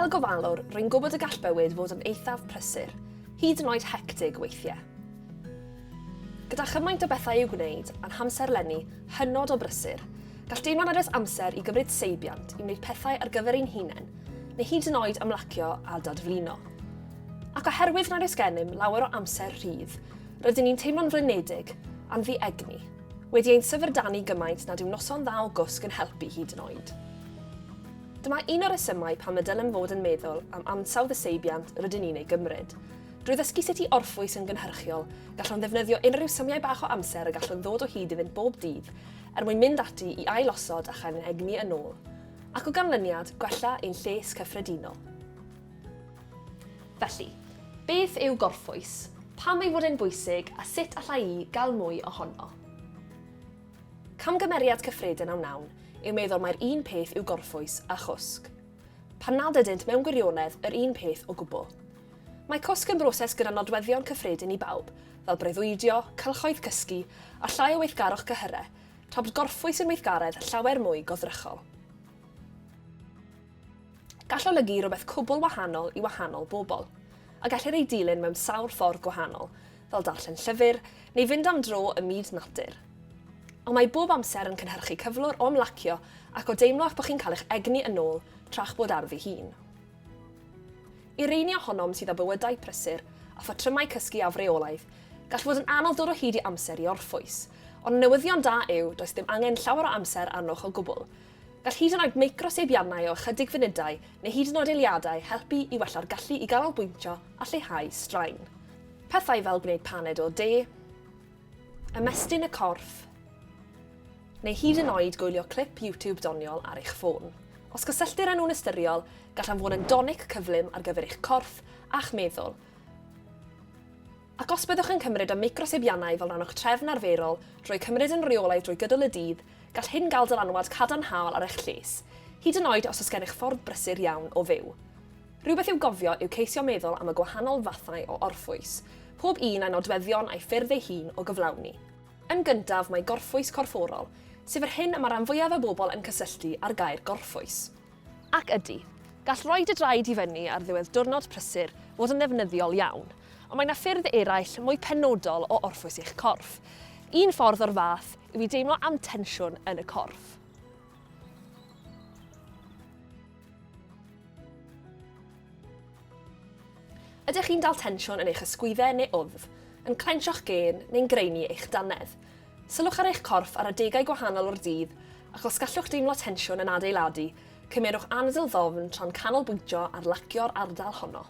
Fel gofalwr, rwy'n gwybod y gall bywyd fod yn eithaf prysur, hyd yn oed hectig weithiau. Gyda chymaint o bethau i'w gwneud a'n hamserlenni hynod o brysur, gall deimlo'n addas amser i gymryd seibiant i wneud pethau ar gyfer ein hunain neu hyd yn oed ymlacio a dadflino. Ac oherwydd nad oes gennym lawer o amser rhydd, rydyn ni'n teimlo'n flinedig am ddi egni, wedi ein syfrdanu gymaint nad yw noson dda o gwsg yn helpu hyd yn oed. Dyma un o'r resymau pam y dylem fod yn meddwl am ansawdd y seibiant rydyn ni'n ei gymryd. Drwy ddysgu sut i orffwys yn gynhyrchiol, gallwn ddefnyddio unrhyw symiau bach o amser y gallwn ddod o hyd iddynt bob dydd er mwyn mynd ati i ail-osod a chael ein egni yn ôl. ac o ganlyniad gwella ein lles cyffredinol. Felly, beth yw gorffwys, pam ei fod e'n bwysig a sut alla i gael mwy ohono? Camgymeriad cyffredin a wnawn yw meddwl mai'r un peth yw gorffwys a chwsg, pan nad ydynt mewn gwirionedd yr un peth o gwbl. Mae cwsg yn broses gyda nodweddion cyffredin i bawb, fel breuddwydio, cylchoedd cysgu, a llai o weithgarwch cyhyrau, Tobs gorffwys yn weithgaredd llawer mwy goddrychol. Gall olygu rhywbeth cwbl wahanol i wahanol bobl, a gellir ei dilyn mewn sawl ffordd gwahanol, fel darllen llyfr neu fynd am dro ym myd natur. Ond mae bob amser yn cynhyrchu cyflwr o ymlacio ac o deimlo eich bod chi'n cael eich egni yn ôl tra'ch bod ar ddi hun. I rheiny ohonom sydd â bywydau prysur a phatrymau cysgu afreolaidd, gall fod yn anodd dod o hyd i amser i orffwys. Ond y newyddion da yw, does dim angen llawer o amser arnoch o gwbl. Gall hyd yn oed microseibiannau o ychydig funudau, neu hyd yn oed eiliadau, helpu i wella'r gallu i ganolbwyntio a lleihau straen. Pethau fel gwneud paned o de, Ymestyn y corff, neu hyd yn oed gwylio clip YouTube doniol ar eich ffôn. Os cysylltir â nhw'n ystyriol, gallan fod yn donic cyflym ar gyfer eich corff a'ch meddwl. Ac os byddwch yn cymryd y meicrosibiannau fel rhan o'ch trefn arferol drwy cymryd yn reolaidd drwy gydol y dydd, gall hyn gael dylanwad cadarnhaol ar eich lles, hyd yn oed os oes gennych ffordd brysur iawn o fyw. Rhywbeth i'w gofio yw ceisio meddwl am y gwahanol fathau o orffwys, pob un â'i nodweddion a'i ffyrdd ei hun o gyflawni. Yn gyntaf, mae gorffwys corfforol, sef yr hyn y mae rhan fwyaf y bobl yn cysylltu â'r gair gorffwys. Ac ydy, gall roi dy draed i fyny ar ddiwedd diwrnod prysur fod yn ddefnyddiol iawn, ond mae 'na ffyrdd eraill mwy penodol o orffwys eich corff. Un ffordd o'r fath yw i deimlo am tensiwn yn y corff. Ydych chi'n dal tensiwn yn eich ysgwyddau neu wddf, yn clensio'ch gên neu'n graenu eich dannedd? Sylwch ar eich corff ar adegau gwahanol o'r dydd ac os gallwch deimlo tensiwn yn adeiladu, cymerwch anadl ddofn tra'n canolbwyntio ar lacio'r ardal honno.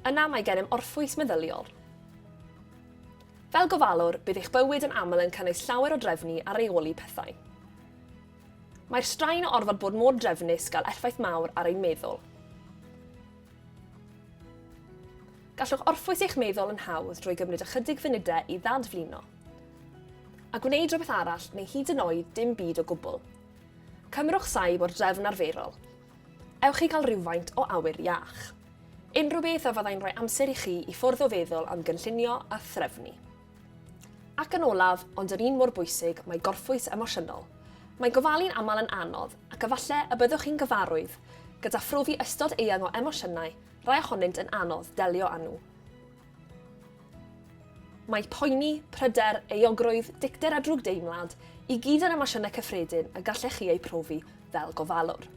Yna mae gennym orffwys meddyliol. Fel gofalwr, bydd eich bywyd yn aml yn cynnwys llawer o drefnu a reoli pethau. Mae'r straen o orfod bod mor drefnus gael effaith mawr ar ein meddwl. Gallwch orffwys eich meddwl yn hawdd drwy gymryd ychydig funudau i ddadflino a gwneud rhywbeth arall neu hyd yn oed dim byd o gwbl. Cymrwch saib o'r drefn arferol, Ewch i gael rhywfaint o awyr iach. Unrhyw beth a fyddai'n rhoi amser i chi i ffwrdd o feddwl am gynllunio a threfnu. Ac yn olaf, ond yr un mor bwysig, mae gorffwys emosiynol. Mae gofalu'n aml yn anodd, ac efallai y byddwch chi'n gyfarwydd gyda phrofi ystod eang o emosiynau, rai ohonynt yn anodd delio â nhw. Mae poeni, pryder, euogrwydd, dicter a drwgdeimlad i gyd yn emosiynau cyffredin y gallech chi eu profi fel gofalwr.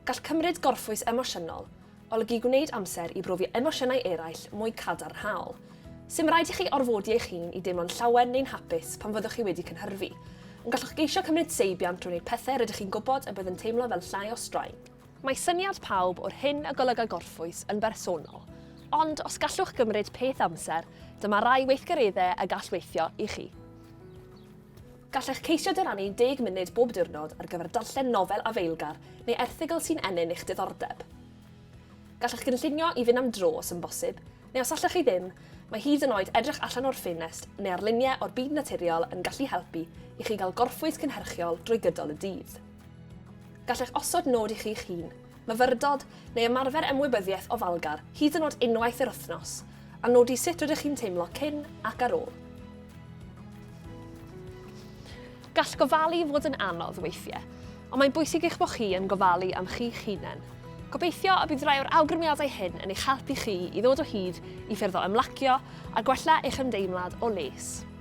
Gall cymryd gorffwys emosiynol olygu gwneud amser i brofi emosiynau eraill mwy cadarnhaol. Sim raid i chi orfodi eich hun i deimlo'n llawen neu'n hapus pan fyddwch chi wedi cynhyrfu, ond gallwch geisio cymryd seibiant drwy wneud pethau rydych chi'n gwybod y bydd yn teimlo fel llai o straen. Mae syniad pawb o'r hyn a golyga gorffwys yn bersonol, ond os gallwch gymryd peth amser, dyma rai weithgareddau y gall weithio i chi. Gallech ceisio dyrannu deg munud bob diwrnod ar gyfer darllen nofel afeilgar neu erthygl sy'n ennyn eich diddordeb. Gallech gynllunio i fynd am dro os yn bosib, neu os allwch chi ddim, mae hyd yn oed edrych allan o'r ffenest neu ar luniau o'r byd naturiol yn gallu helpu i chi gael gorffwys cynhyrchiol drwy gydol y dydd. Gallech osod nod i chi'ch hun, myfyrdod, neu ymarfer ymwybyddiaeth ofalgar hyd yn oed unwaith yr wythnos, a nodi sut rydych chi'n teimlo cyn ac ar ôl. Gall gofalu fod yn anodd weithiau, ond mae'n bwysig eich bod chi yn gofalu am chi'ch hunain. Gobeithio y bydd rhai o'r awgrymiadau hyn yn eich helpu chi i ddod o hyd i ffyrdd o ymlacio a gwella eich ymdeimlad o les.